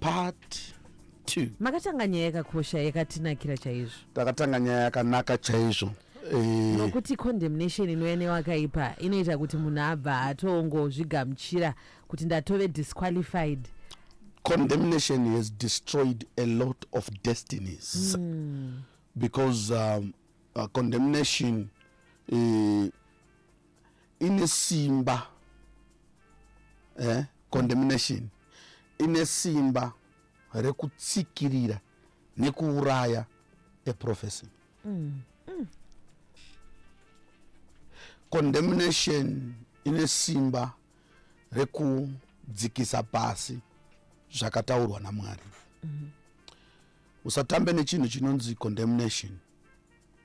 part 2 makatanga nyaya yakakosha yakatinakira chaizvo takatanga nyaya yakanaka chaizvo Eh, nokuti condemnation inouya newakaipa inoita kuti munhu abva atongozvigamuchira kuti ndatove disqualified condemnation has destroyed a lot of destinies because um, uh, condemnation eh, ine simba eh, condemnation ine simba rekutsikirira nekuuraya eprofesi mm. mm. condemnation ine simba rekudzikisa pasi zvakataurwa namwari mm -hmm. usatambe nechinhu chinonzi condemnation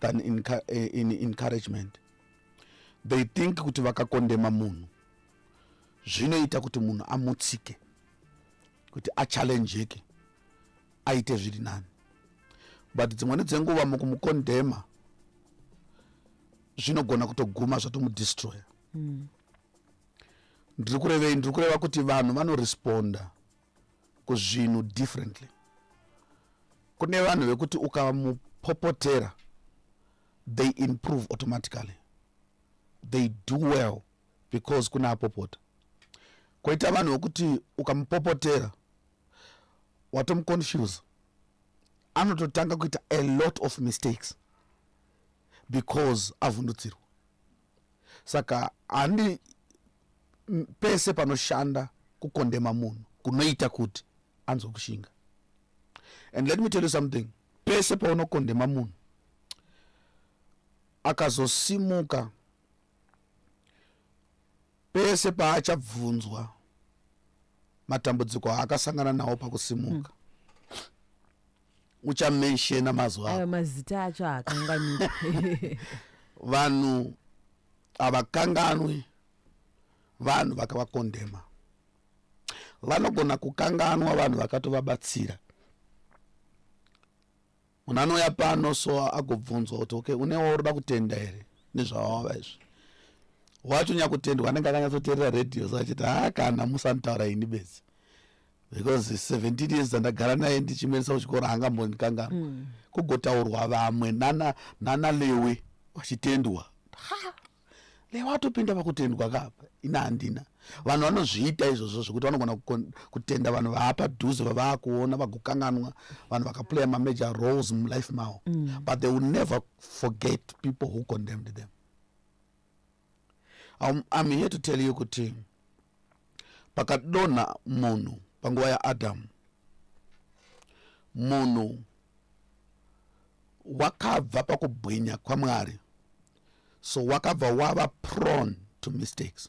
than in, eh, in encouragement they think kuti vakakondema munhu zvinoita kuti munhu amutsike kuti achallengeke aite zviri nani but dzimweni dzenguva mukumukondema zvinogona kutoguma zvatomudestroya mm. ndiri kurevei ndiri kureva kuti vanhu vanoresponda kuzvinhu differently kune vanhu vekuti ukamupopotera they improve automatically they do well because kune apopota koita vanhu vekuti ukamupopotera watomuconfuse anototanga kuita a lot of mistakes because avhundutsirwa saka handi pese panoshanda kukondema munhu kunoita kuti anzwe kushinga and let me tell you something pese paunokondema munhu akazosimuka pese paachabvunzwa matambudziko aakasangana nawo pakusimuka mm. uchamenshena mazuva ayo mazita acho akanganika vanhu havakanganwi vanhu vakavakondema vanogona kukanganwa vanhu vakatovabatsira munhu anouya pano so agobvunzwa kuti okay une waurida kutenda here nezvawava izvi wacho nyakutendwa anenge akanyatsoterera radio so achiti haa kana musanitaura ini bedzi because 17 years dzandagara naye ndichimuendesa kuchikoro haangambondikangamwa mm. kugotaurwa vamwe nana, nana lewe vachitendwa lewe atopinda pakutendwa kapa ina handina vanhu vanozviita izvozvo zvekuti vanogona kutenda vanhu vaapa dhuze vavaakuona vagokanganwa vanhu vakaplaya mamajor roles mulife mavo mm. but they will never forget people who condemned them I'm, I'm here to tell you kuti pakadonha munhu panguva yaadamu munhu wakabva pakubwinya kwamwari so wakabva wava prone to mistakes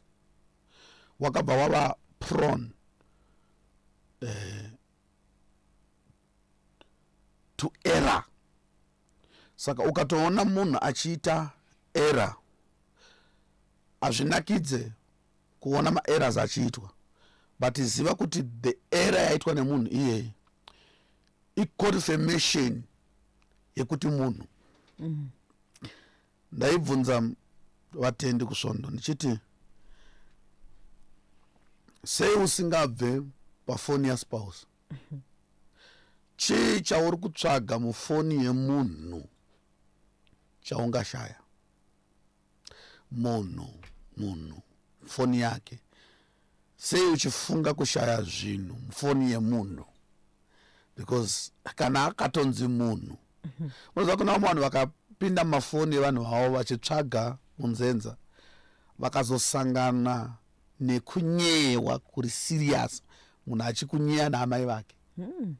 wakabva wava prone uh, to error saka ukatoona munhu achiita era hazvinakidze kuona maeras achiitwa but ziva kuti the era yaitwa nemunhu iyeyi iconfirmation yekuti munhu mm. ndaibvunza vatendi kusvondo ndichiti sei usingabve pafoni yaspouse chii chauri kutsvaga mufoni yemunhu chaungashaya munhu munhu foni yake sei uchifunga kushaya zvinhu mufoni yemunhu because kana akatonzi munhu unoziva kuna vamwe vanhu vakapinda mumafoni evanhu vavo vachitsvaga munzenza vakazosangana nekunyeyewa kuri serious munhu achikunyeya naamai vake hmm.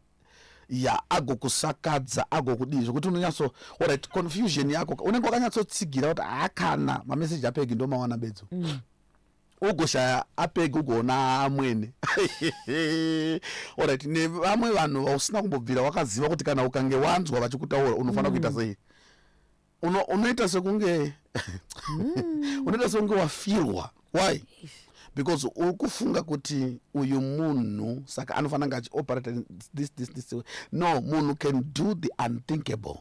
ya agokusakadza agokudii zvekuti unonyatso orit confusion yako unenge wakanyatsotsigira kuti haakana mameseji apegi ndomawana bedzo mm. ugoshaya apegi ugoona amwene orit nevamwe vanhu vausina kumbobvira wakaziva kuti kana ukange wanzwa vachikutaura unofanira mm. kuita sei uno unoita sekunge mm. unoita sekunge wafirwa why because uri kufunga kuti uyu munhu saka anofanira kunge achioperate this this this way no munhu can do the unthinkable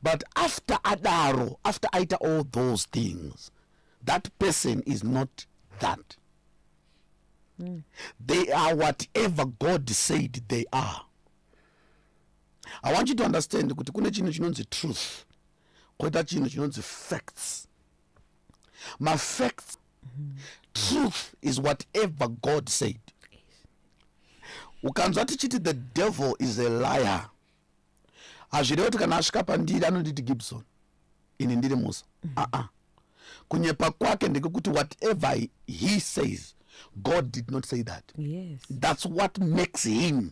but after adaro after aita all those things that person is not that mm. they are whatever god said they are i want you to understand kuti kune chinhu chinonzi truth koita chinhu chinonzi facts mafacts mm -hmm. truth is whatever god said ukanzwa tichiti the devil is a liar hazvirevo kuti kana asvika pandiri anonditi gibson ini ndiri musa mm -hmm. uh -uh. kunyepa kwake ndekekuti whatever he says god did not say that yes. that's what makes him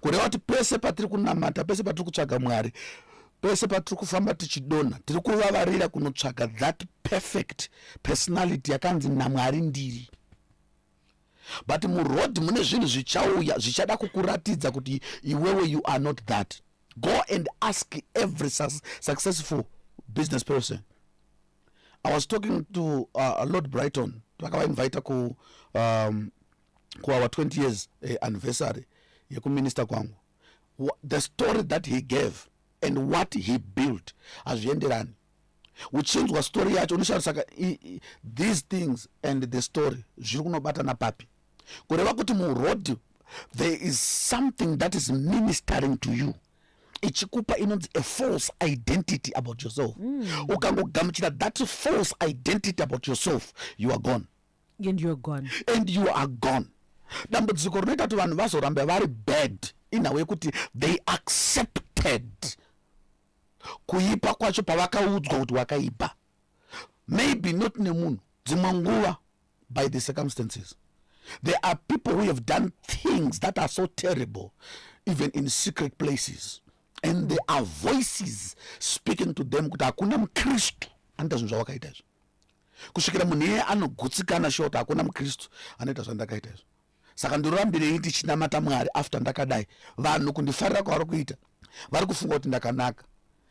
kureva kuti pese patiri kunamata pese patiri kutsvaga mwari pese patiri kufamba tichidonha tiri kuvavarira kunotsvaga that perfect personality yakanzi namwari ndiri but muroad mune zvinhu zvichauya zvichada kukuratidza kuti iwewe you are not that go and ask every successful business person i was talking to uh, lord brighton vakavainvita ku um, kuour 20 years uh, anniversary yekuminista kwangu the story that he gave and what he built hazvienderani uchinzwa story yacho unoshaya saka these things and the story zviri kunobatana papi kureva kuti muroad there is something that is ministering to you ichikupa inonzi a false identity about yourself mm. ukangogamuchira that false identity about yourself you are gone and you're gone and you are gone dambudziko rinoita kuti vanhu vazorambe vari bad inhawu yekuti they accepted kuipa kwacho pavakaudzwa kuti wakaipa maybe not nemunhu dzimwe nguva by the circumstances there are people who have done things that are so terrible even in secret places and there are voices speaking to them kuti hakuna mukristu anoita zvinhu zvawakaita izvo kusvikira munhu iye anogutsikana shota hakuna mukristu anoita zvandakaita izvo saka ndorambirei ndichinamata mwari after ndakadai vanhu kundifarira kwavari kuita vari kufunga kuti ndakanaka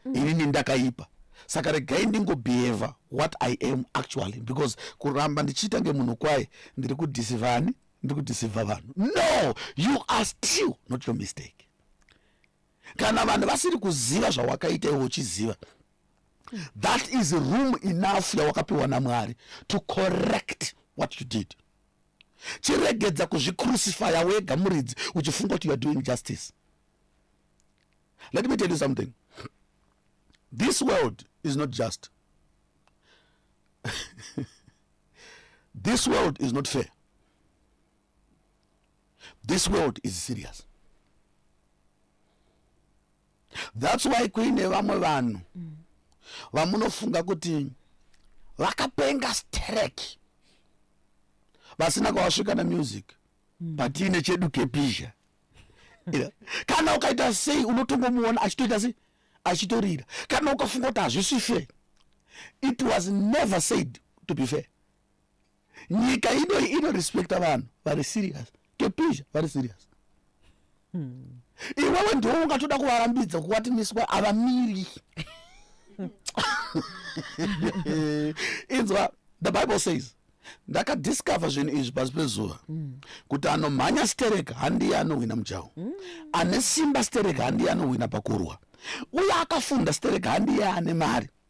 mm. inini ndakaipa saka regai ndingobehave what i am actually because kuramba ndichiita ngemunhu kwaye ndiri kudhisivani ndiri kudhisiva vanhu no you are still not your mistake kana vanhu vasiri kuziva zvawakaita iwe uchiziva that is room enough yawakapiwa namwari to correct what you did chiregedza kuzvicrucifya wega muridzi uchifunga kuti youare doing justice let me tell you something this world is not just this world is not fair this world is serious thats why kuine vamwe vanhu mm. vamunofunga kuti vakapenga strek vasina kwavasvika nemusic mm. but tiine chedu kepizha kana ukaita sei unotongomuona achitoita sei achitorira kana ukafunga kuti hazvisi fair it was never said to be fair nyika ino inorespecta vanhu vari serious kepisha vari serious hmm. iwewe ndiwo ungatoda kuvarambidza kuwati miswa avamiri inzwa the bible says ndakadiscover zvinhu izvi pasi pezuva mm. kuti anomhanya sterek handiye anohwina mujaho mm. ane simba sterek handiye anohwina pakurwa uye akafunda sterek handiye ane mari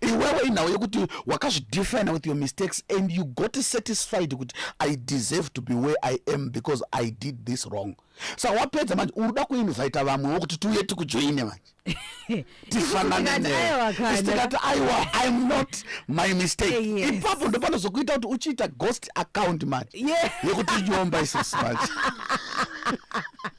iwewe inhau yekuti wakazvidefine with your mistakes and you got satisfied kuti i deserve to be where i am because i did this wrong sa wapedza manje urikuda kuinvita vamwewo kuti tiuye tikujoine manje tifananeitikati aiwa im not my mistake eh, yes. ipapo ndopanozokuita kuti uchiita ghost account manje yeah. yekuti nyomba isisi manje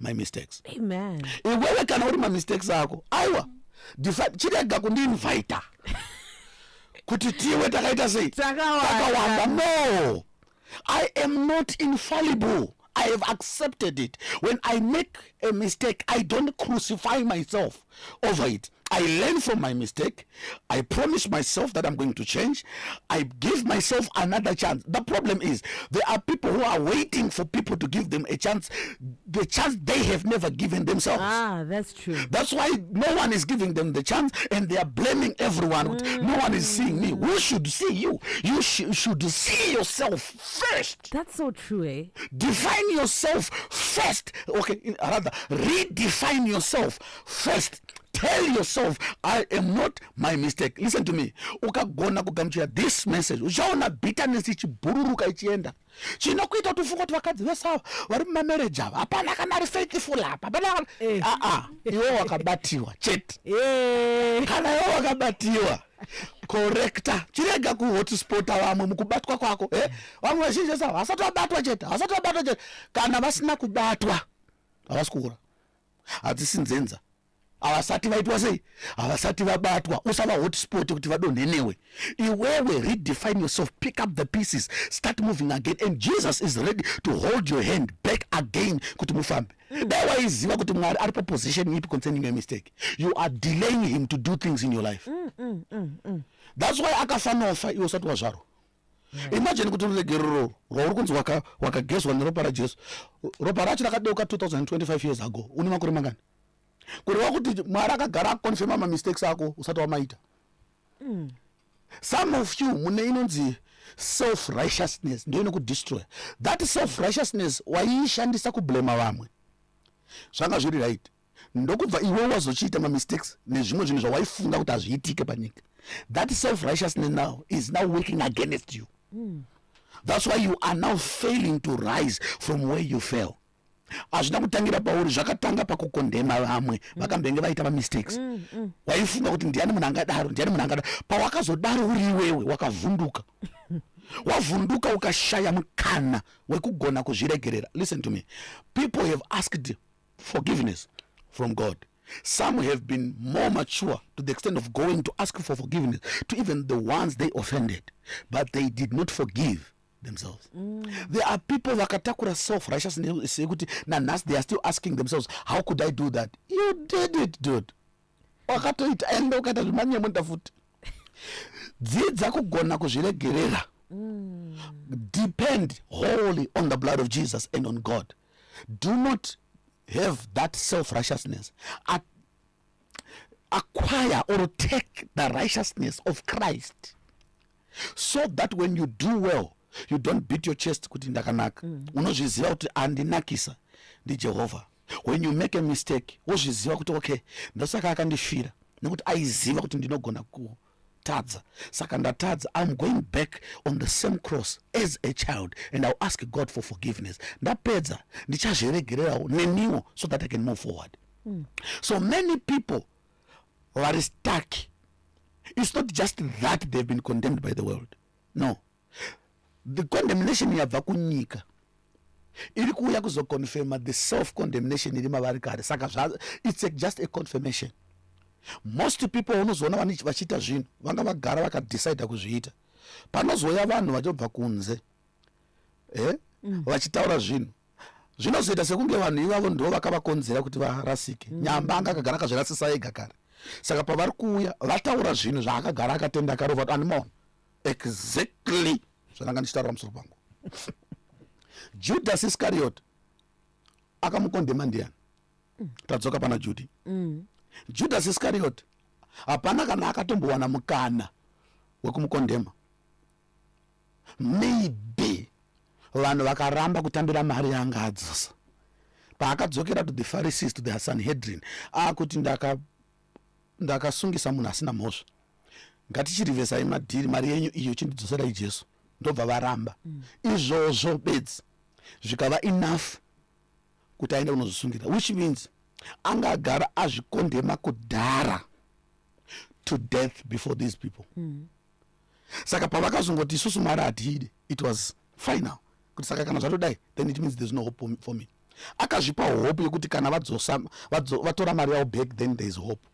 my mistakes amen iwewe kana uri mamistakes ako aiwa chirega kundiinvita kuti tiwe takaita sei takawanda no i am not infallible i have accepted it when i make a mistake i don't crucify myself over it i learn from my mistake i promise myself that i'm going to change i give myself another chance the problem is there are people who are waiting for people to give them a chance the chance they have never given themselves ah that's true that's why no one is giving them the chance and they are blaming everyone mm. no one is seeing me who should see you you sh should see yourself first first that's so true eh? define yourself first okay in, rather redefine yourself first tell yourself i am not my mistake listen to me ukagona kugamuchira this message uchaona bitterness ichibhururuka ichienda chinokuita kuti ufunga kuti vakadzi vese ava vari mumamereji ava hapana kana ari faithful apa hapana aa eh. ah, ah, iwo wakabatiwa chete eh. kana iwo wakabatiwa korekta chirega kuhotspota vamwe mukubatwa kwako eh? vamwe vazhinji vese havasati vabatwa chete havasati vabatwa chete kana vasina kubatwa havasi kuura hadzisi nzenza havasati vaitwa sei havasati vabatwa usava hotspot kuti vadonhe newe iwewe redefine yourself pick up the pieces start moving again and jesus is ready to hold your hand back again kuti mufambe dai waiziva kuti mwari ari paposition ipi concerning your mistake you are delaying him to do things in your life mm, mm, mm, mm. thats why akafanofa iwe usati wazvarwa yeah. imagine kuti ruregerero rwauri kunzi wakagezwa waka neropa rajesu ropa racho rakadeuka 2025 years ago une makore mangani kureva kuti mwari akagara akukonfema mamistakes ako usati wamaita mm. some of you mune inonzi self righteousness ndiyo inokudestroya that self righteousness waiishandisa kublema vamwe zvanga zviri right ndokubva iwe wazochiita mamistakes nezvimwe zvinhu zvawaifunga kuti hazviitike panyika that self righteousness now is now working against you mm. that's why you are now failing to rise from where you fell hazvina kutangira pauri zvakatanga pakukondema vamwe mm. vakambenge vaita mamistakes mm, mm. waifunga kuti ndiani munhu angadaro ndiani munhu angadaro pawakazodaro uri iwewe wakavhunduka wavhunduka ukashaya mukana wekugona kuzviregerera listen to me people have asked forgiveness from god some have been more mature to the extent of going to ask for forgiveness to even the ones they offended but they did not forgive themselves mm. there are people vakatakura self righteousness yekuti nanhasi they are still asking themselves how could i do that you did it dude wakatoita ende ukaita zvemanyemuta futi dzidza kugona kuzviregerera mm. depend wholly on the blood of jesus and on god do not have that self righteousness acquire or take the righteousness of christ so that when you do well you don't beat your chest kuti ndakanaka mm. unozviziva kuti andinakisa ndijehovha when you make a mistake wozviziva kuti okay ndosaka akandifira nekuti aiziva kuti ndinogona tadza saka ndatadza im going back on the same cross as a child and iw ask god for forgiveness ndapedza ndichazviregererawo neniwo so that i can move forward mm. so many people vari stuck it's not just that they've been condemned by the world no the condemnation yabva kunyika iri kuuya kuzoconfirma the self condemnation iri mavari kare saka its just a confirmation most people unozoona vachiita zvinhu vanga vagara vakadecida kuzviita panozouya vanhu vachobva kunze eh? mm. vachitaura zvinhu zvinozoita sekunge vanhu ivavo ndo vakavakonzera kuti varasike mm. nyamba anga akagara akazvirasisa ega kare saka pavari kuuya vataura zvinhu zvaakagara akatenda akarova kuti andimona exactly zvandanga ndichitaura musoro pangu judas iscariot akamukondema ndiyani tadzoka pana judi mm. judas iscariot hapana kana akatombowana mukana wekumukondema maybe vanhu vakaramba kutambira mari yanga adzisa paakadzokera to the pharisees to the sanhedrin akuti ndaka ndakasungisa munhu asina mhosva ngatichirivesai madhiri mari yenyu iyo chindidzoserai jesu ndobva varamba mm. izvozvo bedzi zvikava enough kuti aende kunozosungira which means anga agara azvikondema kudhara to death before these people mm. saka pavakazongoti isusu mari hatiide it was final kuti saka kana zvatodai then it means there's no hope for me akazvipa hope yekuti kana vadzosa vatora mari yavo back then there's hope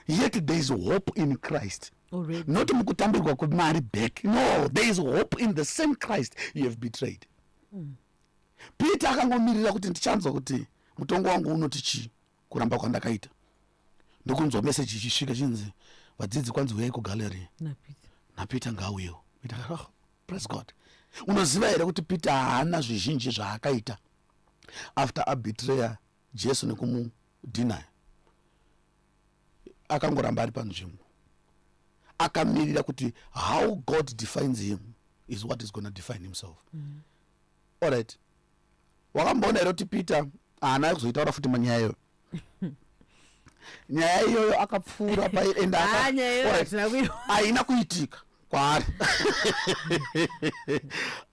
yet there is hope in christ Already. not mukutambirwa kwemari back no there is hope in the same christ you have betrayed mm. peter akangomirira kuti ndichanzwa kuti mutongo wangu unoti chii kuramba kwandakaita ndokunzwa meseji ichisvika chinzi vadzidzi kwanzi huyai kugallery napeter ngauyewo oh, praise god unoziva here kuti peter haana zvizhinji zvaakaita after abitreya jesu nekumudinaya akangoramba ari panzvimbo akamirira kuti how god defines him is what is gona define himself mm -hmm. all right wakamboona here kuti peter haana ah, kuzoitaura futi manyaya iyoyo nyaya iyoyo akapfuura paienda haina kuitika kwaari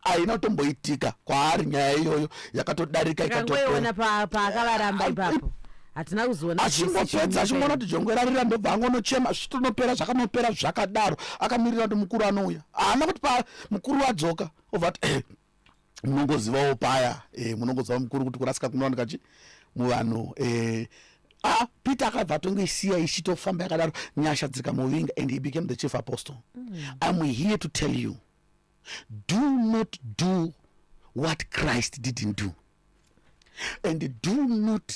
haina kutomboitika kwaari nyaya iyoyo yakatodarika ikatopaakavaramba ipapo hatina kuzoona achingopedza achingoona kuti jongwe rarira ndobva angonochema zvitonopera zvakanopera zvakadaro akamirira kuti mukuru anouya haana kuti pa mukuru wadzoka obva kuti munongozivawo paya e, munongoziva mukuru kuti kurasika kunowanika chi muvanhu e, ah, peter akabva atongoisiya ichitofamba yakadaro nyasha dziri kamuvinga and he became the chief apostle mm. im here to tell you do not do what christ didn't do and do not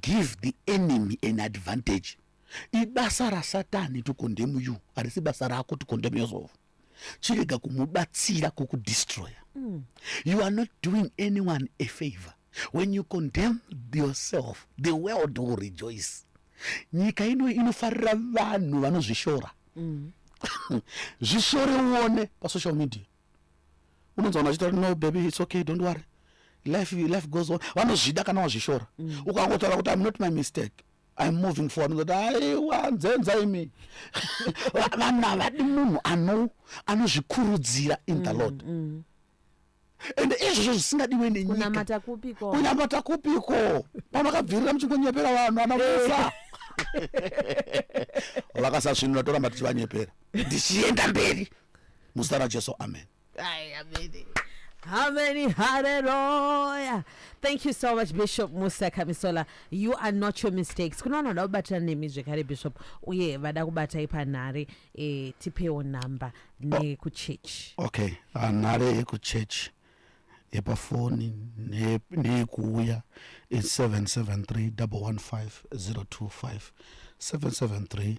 give the enemy an advantage ibasa rasatani to condemn you harisi basa rako to condemn yourself chirega kumubatsira kukudestroyer mm. you are not doing anyone a favor when you condemn yourself the world will rejoice nyika ino inofarira vanhu vanozvishora mm. zvishore uone pasocial media unonzwa vanhu vachitaura no baby its okay don't worry life, life goes on vanozvida kana wazvishora mm. ukangotaura kuti im not my mistake I'm moving forward ndoti aiwa nzenza imi vanhu havadi munhu ano anozvikurudzira in the mm, lord mm. ende izvozvo zvisingadiwe nenyika kunamata kupiko pamakabvirira muchingonyepera vanhu ana musa vakasasvinura toramba tichivanyepera ndichienda mberi muzita rajesu amen Ay, amene. Ameni, haleluya. Thank you so much Bishop Musa Kamisola. You are not your mistakes. Kuna vanoda kubatira nemi zvekare Bishop uye vada kubatai panhare eh, tipewo namba nekuchurch. Oh, okay, ah, nare yekuchurch yepafoni neyekuuya is 773 115 025 773